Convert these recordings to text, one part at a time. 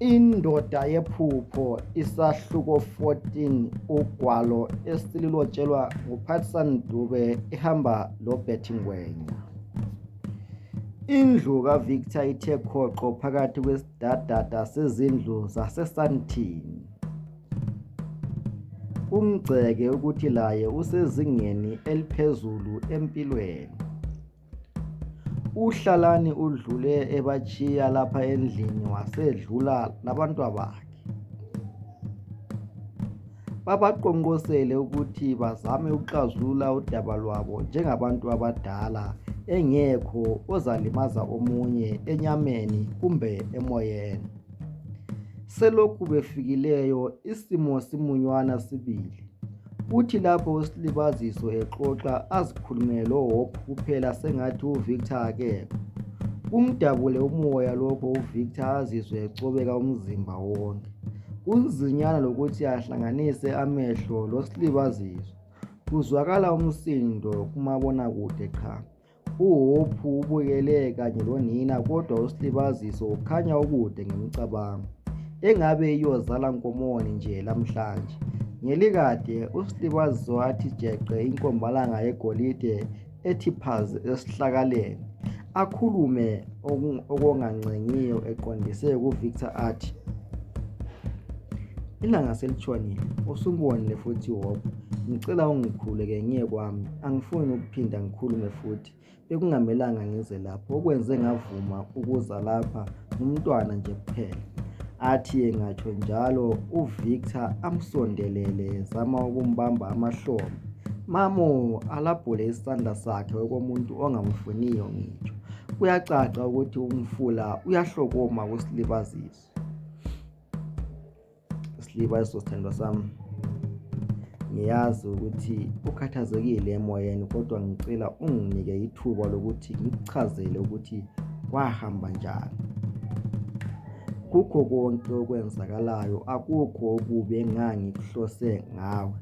Indoda yephupho isahluko 14 ugwalo esililotshelwa nguPatson Dube ihamba loBetty Ngwenya. Indlu kaVictor ithe khoqo phakathi kwesidadada sezindlu zaseSandton. Umgceke ukuthi laye usezingeni eliphezulu empilweni. UHlalani udlule ebatshiya lapha endlini wasedlula labantwabakhe. Babaqonqosele ukuthi bazame ukuxazulula udaba lwabo njengabantu abadala engekho ozalimaza omunye enyameni kumbe emoyeni. Selokhu befikileyo isimo simunywana sibili kuthi lapho uSlibaziso exoxa azikhulumele loHope kuphela sengathi uVictor akekho. Kumdabule umoya lokho uVictor azizwe ecobeka umzimba wonke. Kunzinyana lokuthi ahlanganise amehlo loSlibaziso. Kuzwakala umsindo kumabonakude qha. UHophu ubukele kanye lonina kodwa uSlibaziso ukhanya ukude ngemicabango. Engabe iyozala nkomoni nje lamhlanje. Ngelikade uSlibaziso wathi jeqe inkombalanga yegolide ethi phazi esihlakaleni. Akhulume okungancengiyo eqondise kuVictor athi ilanga selitshonile usubonile futhi Hophu. Ngicela ungikhuleke ngiye kwami, angifuni ukuphinda ngikhulume futhi. Bekungamelanga ngize lapho, okwenze ngavuma ukuza lapha ngumntwana nje kuphela. Athi engatsho njalo uVictor amsondelele ezama ukumbamba amahlombe. Mamo alabhule isandla sakhe okomuntu ongamfuniyo ngitsho. Kuyacaca ukuthi umfula uyahlokoma kusilibazisa. Slibayiso sthandwa sami ngiyazi ukuthi ukhathazekile emoyeni kodwa ngicela unginike ithuba lokuthi ngikuchazele ukuthi kwahamba njani kukho konke okwenzakalayo akukho okubi engangikuhlose ngawe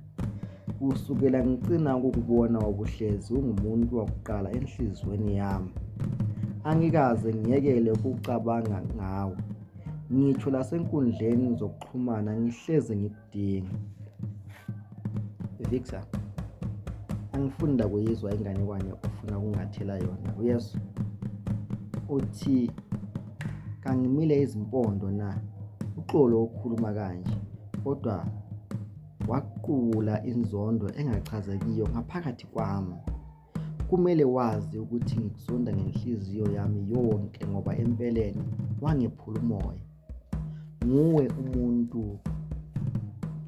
kusukela ngicina ukukubona ubuhlezi ungumuntu wakuqala enhliziyweni yami angikaze ngiyekele ukucabanga ngawe ngitsho lasenkundleni zokuxhumana ngihlezi ngikudinga Victor angifuni ndakuyizwa inganekwane ofuna ukungathela yona uyesu uthi kangimile izimpondo na uxolo ukhuluma kanje kodwa waqula inzondo engachazekiyo ngaphakathi kwami Kumele wazi ukuthi ngikuzonda ngenhliziyo yami yonke ngoba empeleni wangephula umoya. Nguwe umuntu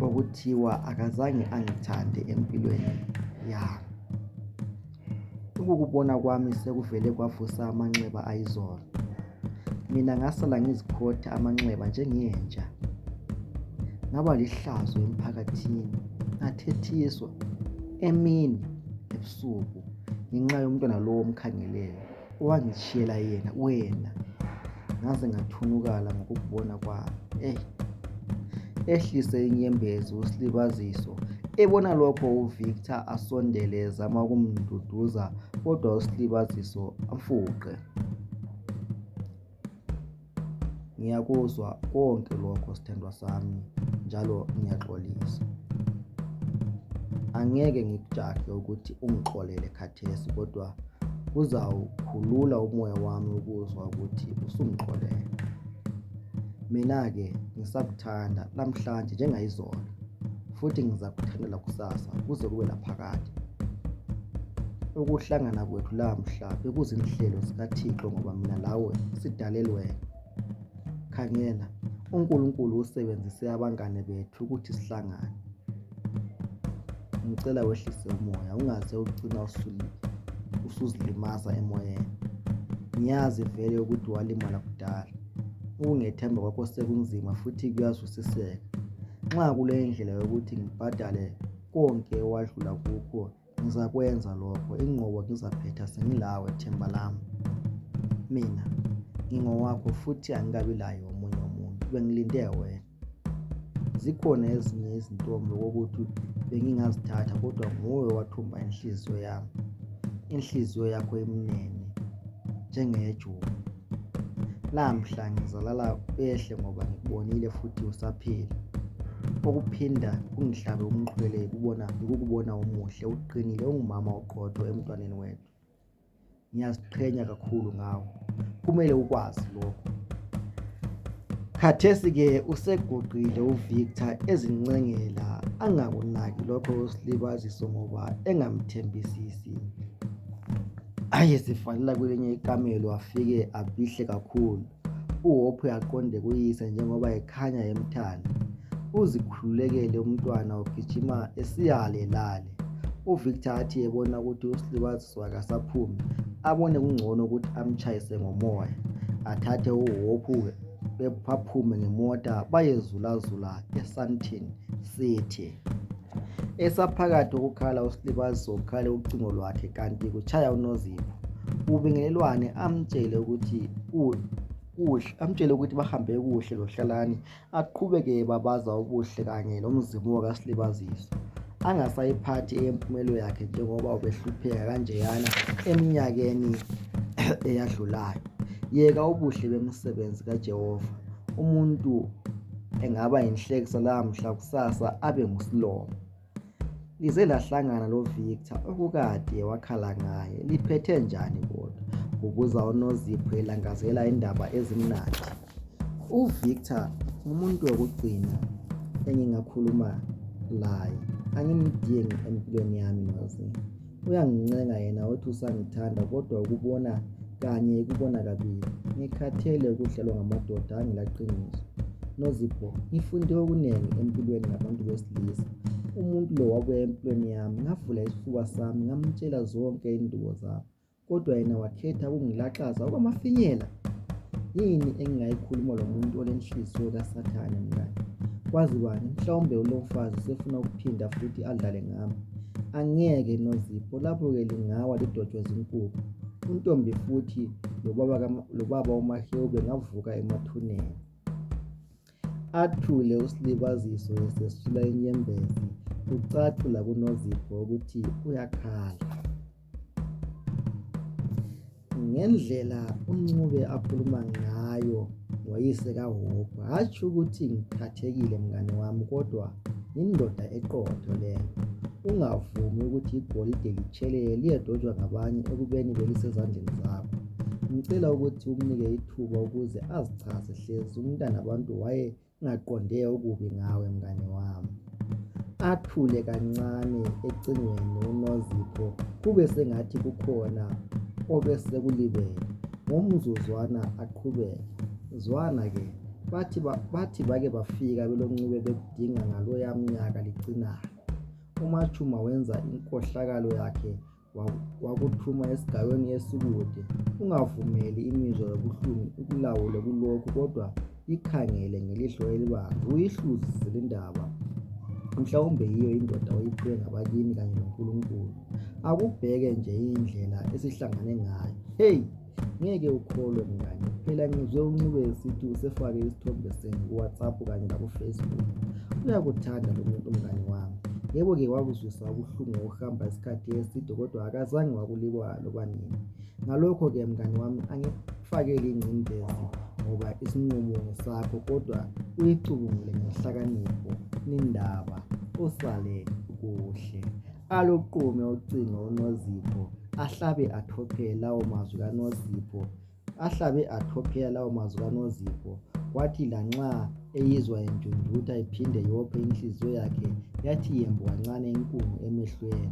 okuthiwa akazange angithande empilweni yami. Ukukubona kwami sekuvele kwavusa amanxeba ayizolo. Mina ngasala ngizikhotha amanxeba njengenja. Ngaba lihlazo emphakathini, ngathethiswa emini ebusuku ngenxa yomntwana lowo omkhangeleyo owangitshiyela yena wena ngaze ngathunukala ngokukubona kwami eh ehlise inyembezi usilibaziso ebona lokho uvictor asondele ezama ukumduduza kodwa usilibaziso amfuqe Ngiyakuzwa konke lokho sthandwa sami njalo ngiyaxolisa. Angeke ngikujahe ukuthi ungixolele khathesi kodwa kuzawukhulula umoya wami ukuzwa ukuthi usungixolele. Mina-ke ngisakuthanda lamhlanje njengayizolo. futhi ngizakuthandela kusasa kuze kube laphakade. Ukuhlangana kwethu lamhla bekuzinhlelo zikaThixo ngoba mina lawe sidalelwe. Khangela, uNkulunkulu usebenzise abangane bethu ukuthi sihlangane. Ngicela wehlise umoya ungaze ugcina usuzilimaza emoyeni. Ngiyazi vele ukuthi walimala kudala. Ukungethemba kwakho sekunzima futhi kuyazwisiseka. Nxa kulendlela yokuthi ngibhadale konke okwadlula kukho ngizakwenza lokho inqobo ngizaphetha sengilawe themba lami mina ngingowakho futhi angikabi laye omunye umuntu bengilinde wena zikhona ezinye izintombi okokuthi bengingazithatha kodwa nguwe owathumba inhliziyo yami inhliziyo yakho emnene njengeyejuba Lamhla ngizalala ehle ngoba ngikubonile futhi usaphila. Okuphinda kungihlabe umxhwele yikubona yikukubona umuhle, uqinile, ungumama oqotho emntwaneni wethu. Ngiyaziqhenya kakhulu ngawe. Kumele ukwazi lokho. Khathesi-ke useguqile uVictor ezincengela angakunaki lokho slibaziso ngoba engamthembisisi. Ayesivalela kwelinye ikamelo wafike afihle kakhulu. UHope uyaqonde kuyise njengoba ekhanya emthanda. Uzikhululekele umntwana ugijima esiyale lale. UVictor athi ebona ukuthi uSilibaziswa kasaphumi abone kungcono ukuthi amtshayise ngomoya. Athathe uHope baphume ngemota bayezulazula eSandton City. Esaphakathi ukukhala uSlibazisa ukhale ucingo lwakhe kanti kutshaya uNozipho. Ubingelelwane amtshele ukuthi kuhle amtshele ukuthi bahambe kuhle loHlalani aqhubeke babaza ubuhle kanye lomzimu kaSlibazisa angasayiphathi eyempumelo yakhe njengoba ubehlupheka kanjeyana eminyakeni eyadlulayo yeka ubuhle bemisebenzi kaJehova umuntu engaba yinhlekisa lamhla kusasa abe ngusilomo lize lahlangana loVictor okukade wakhala ngaye liphethe njani kodwa kubuza uNozipho elangazela indaba ezimnandi uVictor umuntu wokugcina engingakhuluma laye angimdingi empilweni yami Nozipho Uyangincenga yena othi usangithanda kodwa ukubona kanye ikubona kabili. Ngikhathele ukudlalwa ngamadoda angelaqiniso. Nozipho, ngifunde okunengi empilweni ngabantu besilisa. Umuntu lo wabuya empilweni yami ngavula isifuba sami ngamtshela zonke indubo zami kodwa yena wakhetha ukungilaxaza okwamafinyela. Yini engingayikhuluma lomuntu olenhliziyo kasathane mngane? Kwazi bani mhlawumbe ulomfazi sefuna ukuphinda futhi adlale ngami. Angeke noZipho lapho-ke lingawa lidotshwe zinkukhu. UNtombi futhi lobaba, lobaba uMahewu bengavuka emathuneni. Athule uSilibaziso esesula inyembezi kucace lakuNozipho ukuthi uyakhala. Ngendlela uNcube akhuluma ngayo ngoyise kaHope hatshi ukuthi ngiphathekile mngane wami kodwa yindoda eqotho leyo. Ungavumi ukuthi igolide litshelele liyedotshwa ngabanye ekubeni belisezandleni zakho. Ngicela ukuthi umnike ithuba ukuze azichaze hlezi umntanabantu waye Ngaqonde okubi ngawe mngane wami. Athule kancane ecingweni uNozipho kube sengathi kukhona obesekulibele. Ngomzuzwana aqhubeke. Zwana ke, bathi, ba, bathi bake bafika beloncube bekudinga ngaloya mnyaka licinayo. UMachuma wenza inkohlakalo yakhe wakuthuma esigaweni esikude. Ungavumeli imizwa yobuhlungu ikulawule kulokhu kodwa ikhangele ngelihlo elibanzi uyihluzise le ndaba mhlawumbe yiyo indoda oyiphiwe ngabakini kanye noNkulunkulu akubheke nje indlela esihlangane ngayo heyi ngeke ukholwe mngane phela ngizwe uncube esithi usefake isithombe senu kuwhatsapp kanye lakufacebook uyakuthanda lo muntu mngane wami yebo ke wakuzwisa ubuhlungu ngokuhamba isikhathi eside kodwa akazange wakulikwa loba nini ngalokho ke mngane wami angikufakeli ingcindezi ngoba isinqumo ngesakho kodwa uyicubungule ngenhlakanipho nindaba usalele kuhle Aluqume ucingo uNozipho ahlabe athophele lawo mazwi kaNozipho. Ahlabe athophela lawo mazwi kaNozipho kwathi lanxa eyizwa injunjutha iphinde yophe inhliziyo yakhe yathi yembu kancane inkungu emehlweni.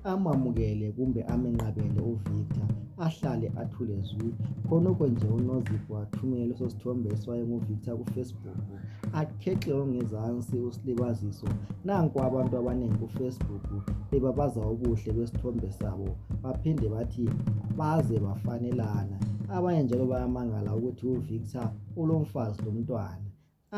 Amamukele kumbe amenqabele uVictor ahlale athule zwi. Khonokho nje uNozipho wathumela leso sithombe esiwaye nguVictor kuFacebook. akhexe ongezansi usilibaziso nanku abantu abanengi kufacebook bebabaza ubuhle besithombe sabo baphinde bathi baze bafanelana abanye njalo bayamangala ukuthi uvictor ulomfazi lomntwana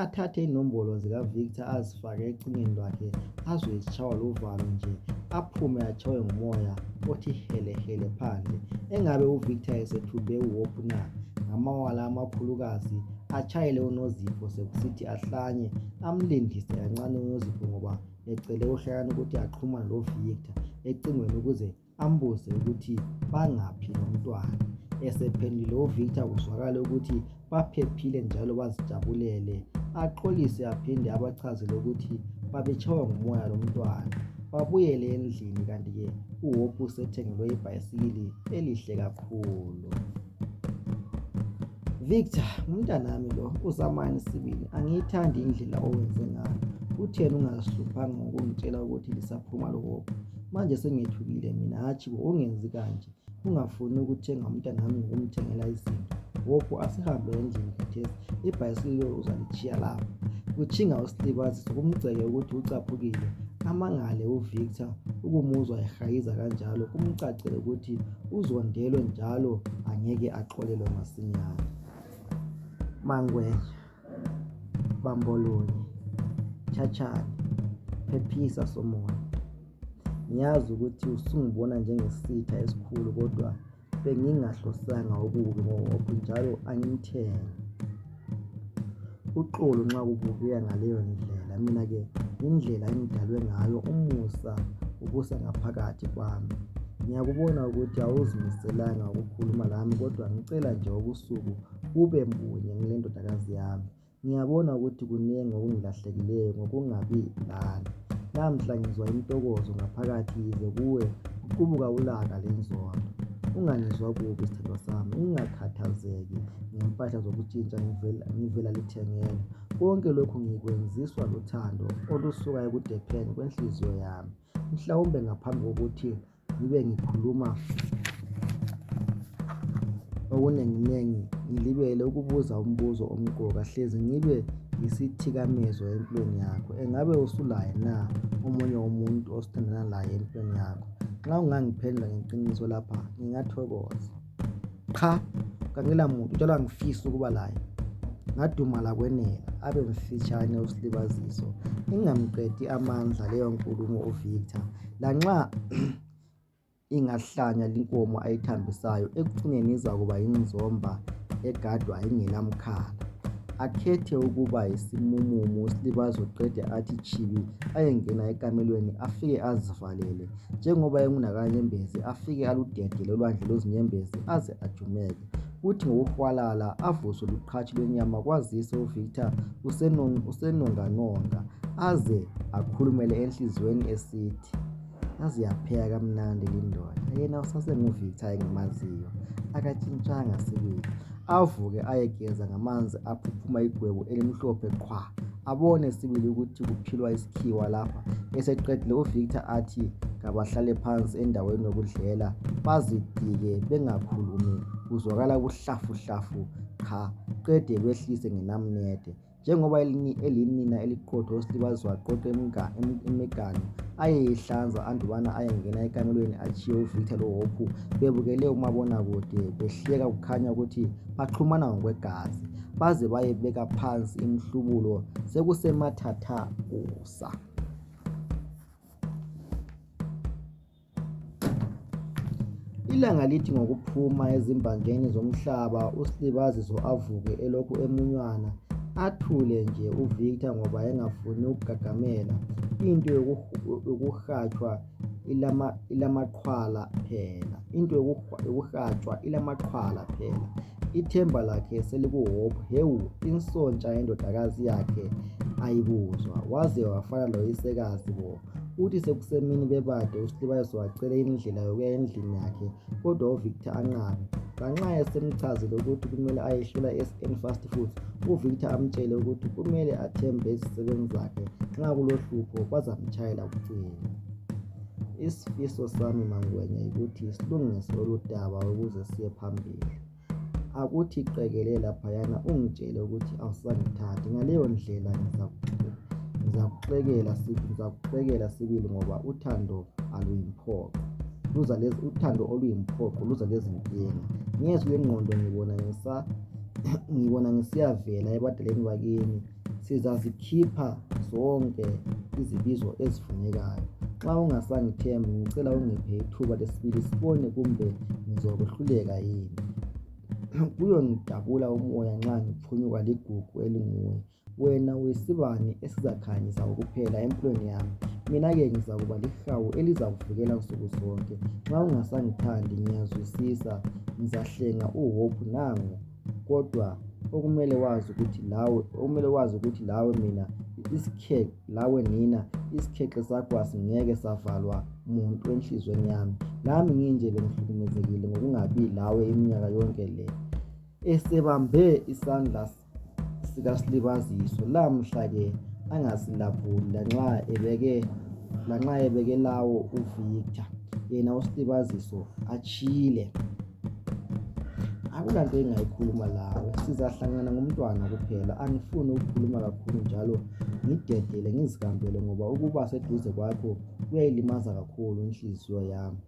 athathe inombolo zikavictor azifake ecingweni lwakhe azwe zitshaywa luvalo nje aphume atshaywe ngumoya othi helehele phandle engabe uvictor esethumbe uhope na ngamawala amakhulukazi atshayele uNozipho sekusithi ahlanye amlindise kancane uNozipho ngoba ecele uHlayani ukuthi axhumane loVictor ecingweni ukuze ambuze ukuthi bangaphi lomntwana esephendule uVictor kuzwakale ukuthi baphephile njalo bazijabulele axolise aphinde abachazele ukuthi babetshaywa ngumoya lomntwana babuyele endlini kanti-ke uhope usethengelwe ibhayisikili elihle kakhulu Victor, umntanami lo uzamani sibili angiyithandi indlela owenze ngayo. Kutheni ungazihluphanga ngokungitshela ukuthi lisaphuma lokopha? Manje sengethukile mina hatshi bo ungenzi kanje. Ungafuni ukuthenga umntanami ngokumthengela izinto. Gogo asihambe endlini khathesi. Ibhayisikili uzalitshiya lapha. Kutshinga usilibazisa kumgceke ukuthi ucaphukile. Amangale uVictor ukumuzwa ehayiza kanjalo kumcacele ukuthi uzondelwe njalo angeke axolelwe masinyane mangwenya bambolonye thathani phephisa somoya ngiyazi ukuthi usungibona njengesitha esikhulu kodwa bengingahlosanga okubi ngoba njalo angimthenge Uxolo nxa kubukeka ngaleyo ndlela mina ke yindlela engidalwe ngayo umusa ubusa ngaphakathi kwami ngiyakubona ukuthi awuzimiselanga ukukhuluma lami kodwa ngicela nje ubusuku bube bunye ngilendodakazi yami ngiyabona ukuthi kunengi okungilahlekileyo ngokungabi lani lamhla ngizwa intokozo ngaphakathi yize kuwe kuqubuka ulaka lenzondo ungangizwa kubi sithandwa sami ungakhathazeki ngempahla zokutshintsha ngivela, ngivela lithengeni. Konke lokhu ngikwenziswa luthando olusuka ekudepheni kwenhliziyo yami. Mhlawumbe ngaphambi kokuthi ngibe ngikhuluma okunenginengi ngilibele ukubuza umbuzo omqoka hlezi ngibe yisithikamezo empilweni yakho engabe usulaye na omunye umuntu osithandana laye empilweni yakho nxa ungangiphendula ngeqiniso lapha ngingathokoza Qha, kangilamuntu njalo angifisi ukuba laye. Ngadumala kwenela abe mfitshane uSlibaziso ingamqedi amandla leyo nkulumo uVictor lanxa ingahlanya inkomo ayithambisayo ekucineni izakuba yinzomba egadwa ingelamkhala. Akhethe ukuba yisimumumu uSlibazo qede athi tshibi ayengena ekamelweni afike azivalele njengoba engunakanyembezi afike aludede lolwandle lwezinyembezi aze ajumeke kuthi ngokuhwalala avuswe luqhatshi lwenyama kwazise uvictor usenonganonga aze akhulumele enhliziyweni esithi yaze yapheka kamnandi lindoda yena usasenguvictor engimaziyo akatshintshanga sibili avuke ayegeza ngamanzi aphuphuma igwebu elimhlophe qhwa abone sibili ukuthi kuphilwa isikhiwa lapha eseqedile uVictor athi kabahlale phansi endaweni yokudlela bazidike bengakhulumi kuzwakala ubuhlafuhlafu qha qede behlise ngenamnede. njengoba elinina eliqotho usilibazwa aqotho imiganu ayeyihlanza andubana ayengena ekamelweni atshiye uvictor lohopu bebukele umabonakude behleka kukhanya ukuthi baxhumana ngokwegazi baze bayebeka phansi imihlubulo sekusemathathakusa Ilanga lithi ngokuphuma ezimbanjeni zomhlaba uSlibaziso avuke elokhu emunywana athule nje uVictor ngoba engafuni ukugagamela into yokuhatshwa ilamaqhwala phela into yokuhatshwa ilamaqhwala phela ithemba lakhe selikuhope hewu insontsha yendodakazi yakhe ayibuzwa waze wafana loyisekazi bo Kuthi sekusemini bebade uSlibayeso wacela indlela yokuya endlini yakhe kodwa uVictor anqabe. Nganxa esemchazile ukuthi kumele ayehlula SN Fast Foods, uVictor amtshele ukuthi kumele athembe izisebenzi zakhe nxa kulohlupho bazamtshayela kucele. Isifiso sami mangwenya yikuthi silungise oludaba ukuze siye phambili. akuthi qekele laphayana ungitshele ukuthi awusangithathi ngaleyo ndlela ngizakuxekela ngizakuxekela sibili ngoba uthando aluyimphoqo luza lezi uthando oluyimphoqo luza lezinkinga ngezwi lengqondo ngibona ngisa ngibona ngisiyavela ebadaleni bakini sizazikhipha zonke izibizo ezifunekayo nxa ungasangithembi ngicela ungiphe ithuba lesibili sibone kumbe ngizokuhluleka yini kuyongidabula umoya nxa ngiphunyukwa ligugu elinguwe wena uyisibani esizakhanyisa ukuphela empilweni yami mina-ke ngizakuba lihawu elizakuvikela nsuku zonke nxa ungasangithandi ngiyazwisisa ngizahlenga uhope nangu kodwa okumele wazi ukuthi lawe okumele wazi ukuthi lawe mina isikhekhe lawe nina isikhekhe sakho asingeke savalwa muntu enhlizweni yami lami nginje bengihlukumezekile ngokungabi lawe iminyaka yonke le esebambe isandla sikasilibaziso lamhla-ke angasilabhuli lanxa ebeke lanxa ebeke lawo uvictor yena usilibaziso atshile akulanto engingayikhuluma lawe sizahlangana ngomntwana kuphela angifuni ukukhuluma kakhulu njalo ngidedele ngizihambele ngoba ukuba seduze kwakho kuyayilimaza kakhulu inhliziyo yami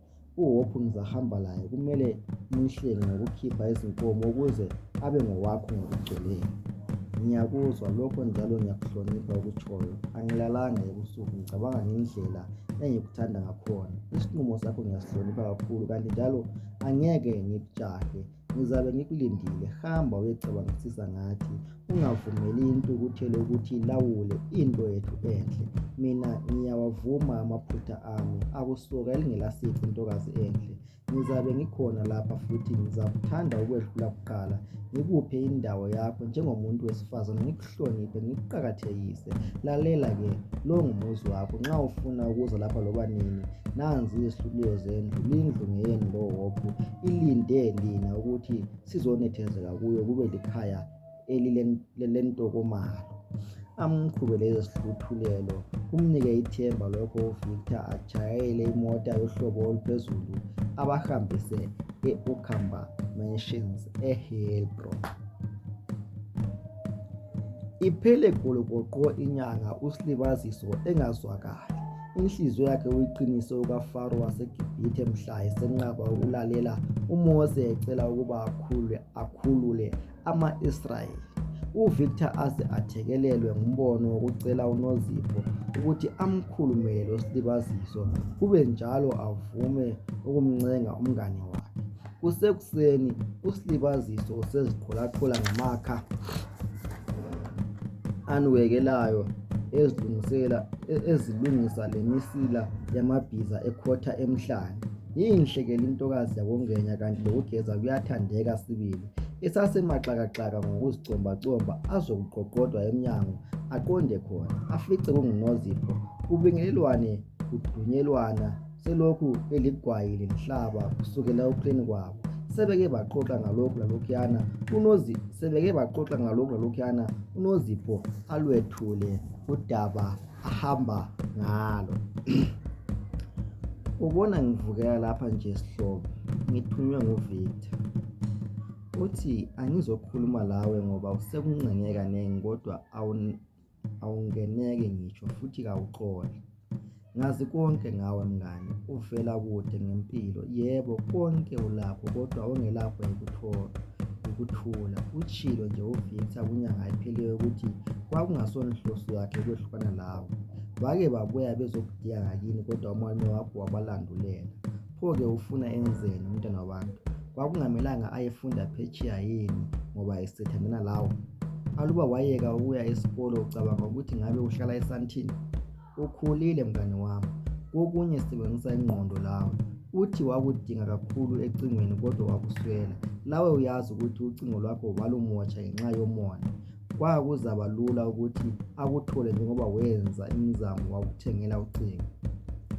uHophu ngizahamba laye kumele ngimhlenge ngokukhipha izinkomo ukuze abe ngowakho ngokugcweleyo ngiyakuzwa lokho njalo ngiyakuhlonipha okutshoyo angilalanga ebusuku ngicabanga ngendlela engikuthanda ngakhona. Isinqumo sakho ngiyasihlonipha kakhulu kanti njalo angeke ngikujahe. Ngizabe ngikulindile. Hamba uyecabangisisa ngathi. Ungavumeli intukuthelo ukuthi ilawule into yethu enhle. Mina ngiyawavuma amaphutha ami. Akusuka elingelasici ntokazi enhle. Ngizabe ngikhona lapha futhi ngizakuthanda ukwedlula kuqala, ngikuphe indawo yakho njengomuntu wesifazana, ngikuhloniphe, ngikuqakathekise. Lalela-ke, lo ngumuzi wakho. Nxa ufuna ukuza lapha loba nini, nanzi izihluliyo zendlu, lindlu ngeyenu lowophu. Ilinde lina ukuthi sizonethezeka kuyo kube likhaya elilentokomalo amqhubele izihluthulelo kumnike ithemba lokho uvictor ajayele imota yohlobo oluphezulu abahambise e-ukamba mansions ehebron iphele gologoqo inyanga usilibaziso engazwakali inhliziyo yakhe uyiqinise ukafaro wasegibhithe mhla esenqaba ukulalela umose ecela ukuba akhulwe akhulule ama-Israyeli. UVictor aze athekelelwe ngumbono wokucela uNozipho ukuthi amkhulumele losilibaziso kube njalo avume ukumncenga umngane wakhe. Kusekuseni usilibaziso useziqholaqhola ngamakha aniwekelayo ezilungisela ezilungisa lemisila yamabhiza ekhotha emhlane. Yinhle ke lintokazi yakoNgwenya kanti lokugeza kuyathandeka sibili. esasemaxakaxaka ngokuzicombacomba azokuqoqodwa emnyango aqonde khona afice kungunozipho kubingelelwane kudunyelwana selokhu eligwayi lenhlaba kusukela ekuhleni kwabo sebeke baxoxa ngalokhu lalokhuyana unozi sebeke baxoxa ngalokhu lalokhuyana unozipho alwethule udaba ahamba ngalo ubona ngivukela lapha nje sihlobo ngithunywe nguvictor uthi angizokhuluma lawe ngoba usekuncenge kanengi kodwa awungeneki ngitsho futhi kawuxoli ngazi konke ngawe mngane uvela kude ngempilo yebo konke ulakho kodwa ongelakho yikuthola ukuthula utshilo nje uVictor kunyanga ephelileyo ukuthi kwakungasonhloso yakhe ukwehlukana lawo bake babuya bezokudinga ngakini kodwa umalume wakho wabalandulela pho-ke ufuna enzeni umntana wabantu kwakungamelanga ayefunda phetshiya yini ngoba esethandana lawo aluba wayeka ukuya esikolo ucabanga ukuthi ngabe uhlala esantini Ukhulile mngane wami, kokunye sebenzisa ingqondo lawe. Uthi wakudinga kakhulu ecingweni kodwa wakuswela. Lawe uyazi ukuthi ucingo lwakho balumosha ngenxa yomona. Kwakuzaba lula ukuthi akuthole njengoba wenza imizamo wakuthengela ucingo.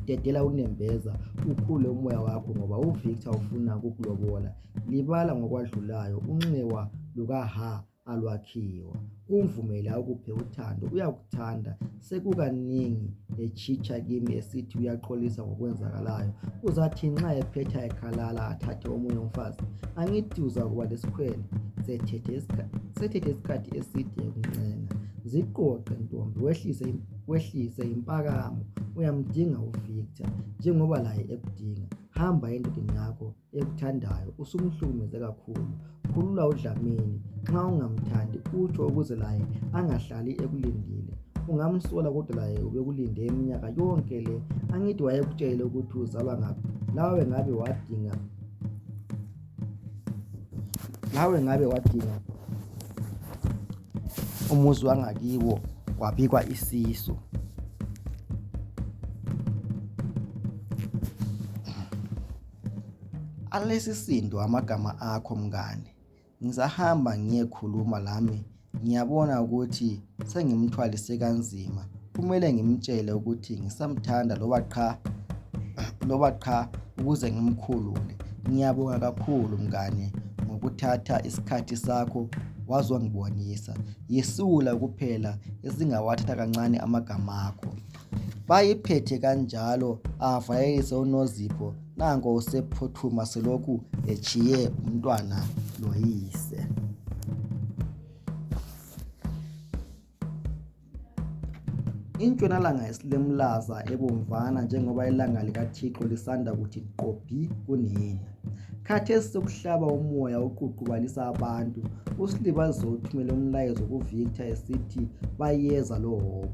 Dedela unembeza ukhule umoya wakho ngoba uVictor ufuna ukukulobola. Libala ngokwadlulayo, unxiwa lukaHa alwakhiwa umvumele akuphe uthando uyakuthanda sekukanengi etshitsha kimi esithi uyaxolisa ngokwenzakalayo uzathi nxa ephetha ekhalala athathe omunye umfazi angithi uzakuba lesikhwele sethethe isikhathi eside ekuncenga ziqoqe ntombi wehlise wehlise impakamo uyamdinga uvictor njengoba laye ekudinga hamba endodeni yakho ekuthandayo usumhlukumeze kakhulu khulula udlamini nxa ungamthandi utsho ukuze laye angahlali ekulindile ungamsola kodwa laye ubekulinde iminyaka yonke le angithi wayekutshele ukuthi uzalwa ngaphi lawe ngabe wadinga lawe ngabe wadinga umuzi wangakiwo wabikwa isisu Alesisindo amagama akho mngane ngizahamba ngiyekhuluma lami ngiyabona ukuthi sengimthwalise kanzima kumele ngimtshele ukuthi ngisamthanda loba qha loba qha ukuze ngimkhulule ngiyabonga kakhulu mngane ngokuthatha isikhathi sakho wazongibonisa yisula kuphela esingawathatha kancane amagama akho. Bayiphethe kanjalo avayekise uNozipho nanko usephuthuma selokhu etshiye umntwana loyise. Intshonalanga isilemlaza ebomvana njengoba ilanga likaThixo lisanda kuthi gqobhi kunina. Khathesi sokuhlaba umoya uququbalisa abantu uSlibazisa uthumele umlayezo ku Victor esithi bayeza lo Hhohho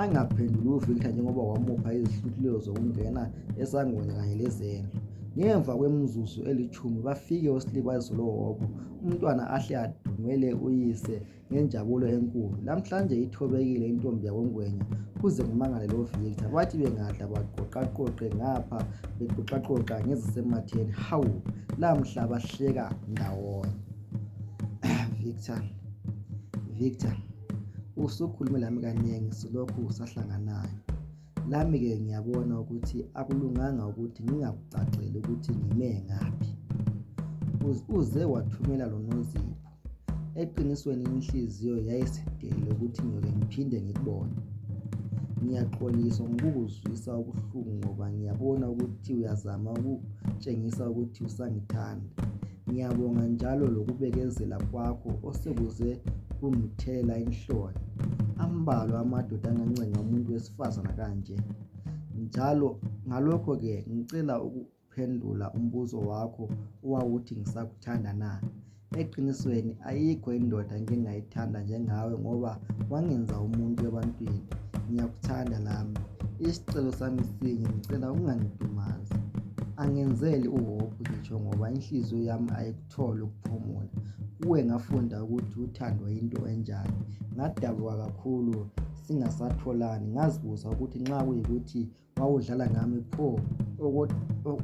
angaphenduli uVictor njengoba wamupha izihluthuleyo zokungena esangweni kanye lezendlu ngemva kwemizuzu elitshumi bafike uSlibazisa lo Hhohho umntwana ahle adumele uyise ngenjabulo enkulu. Lamhlanje ithobekile intombi yakoNgwenya kuze kumangale loVictor. Bathi bengadla baqoqaqoqe ngapha bexoxaxoxa ngezisematheni. Hawu, lamhla bahleka ndawonye. Victor, Victor, usukhulume lami kanengi silokhu sahlanganayo. Lami-ke ngiyabona ukuthi akulunganga ukuthi ngingakucaceli ukuthi ngime ngaphi. Uze wathumela lonozipho. Eqinisweni inhliziyo yayisidele ukuthi ngyoke ngiphinde ngikubone. Ngiyaxolisa ngokukuzwisa ubuhlungu ngoba ngiyabona ukuthi uyazama ukutshengisa ukuthi usangithanda. Ngiyabonga njalo lokubekezela kwakho osekuze kungithela inhloni. Ambalwa amadoda angancenga umuntu wesifazana kanje njalo ngalokho ke ngicela Phendula umbuzo wakho owawuthi ngisakuthanda na? Eqinisweni ayikho indoda engike ngayithanda njengawe ngoba wangenza umuntu ebantwini. Ngiyakuthanda lami. Isicelo sami sinye ngicela ungangidumazi. Angenzeli uhope ngitsho ngoba inhliziyo yami ayikutholi ukuphumula. Kuwe ngafunda ukuthi uthando yinto enjani. Ngadabuka kakhulu singasatholani ngazibuza ukuthi nxa kuyikuthi Nxa udlala ngami pho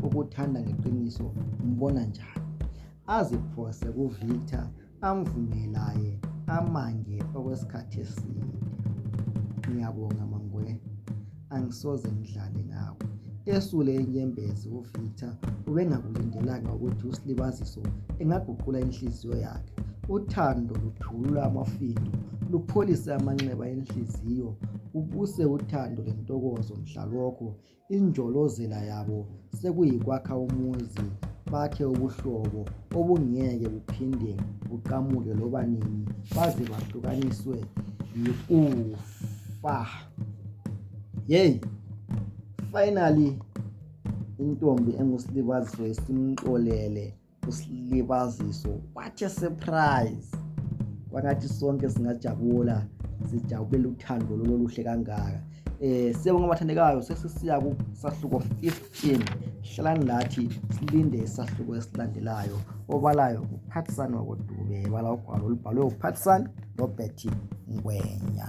okuthanda ngeqiniso umbona njani? Aziphose kuVictor amvume laye amange okwesikhathi eside. Ngiyabonga mangwe, angisoze ngidlale ngawe. Esule inyembezi uVictor ubengakulindelanga ukuthi uSlibaziso engaguqula inhliziyo yakhe. Uthando luthulula amafindo, lupholise amanxeba enhliziyo. Kubuse uthando lentokozo mhlalokho injolozela yabo sekuyikwakha umuzi bakhe ubuhlobo obungeke buphinde buqamuke loba nini baze bahlukaniswe yikufa yeyi finally intombi engusilibaziso isimxolele usilibaziso what a surprise kwangathi sonke singajabula sijabule uthando lololuhle kangaka eh siyabonga abathandekayo sesisiya kusahluko 15 hlalani lathi silinde isahluko esilandelayo obalayo nguphathsani wakodube bala ugwalo olubhalwe uphathsani robert ngwenya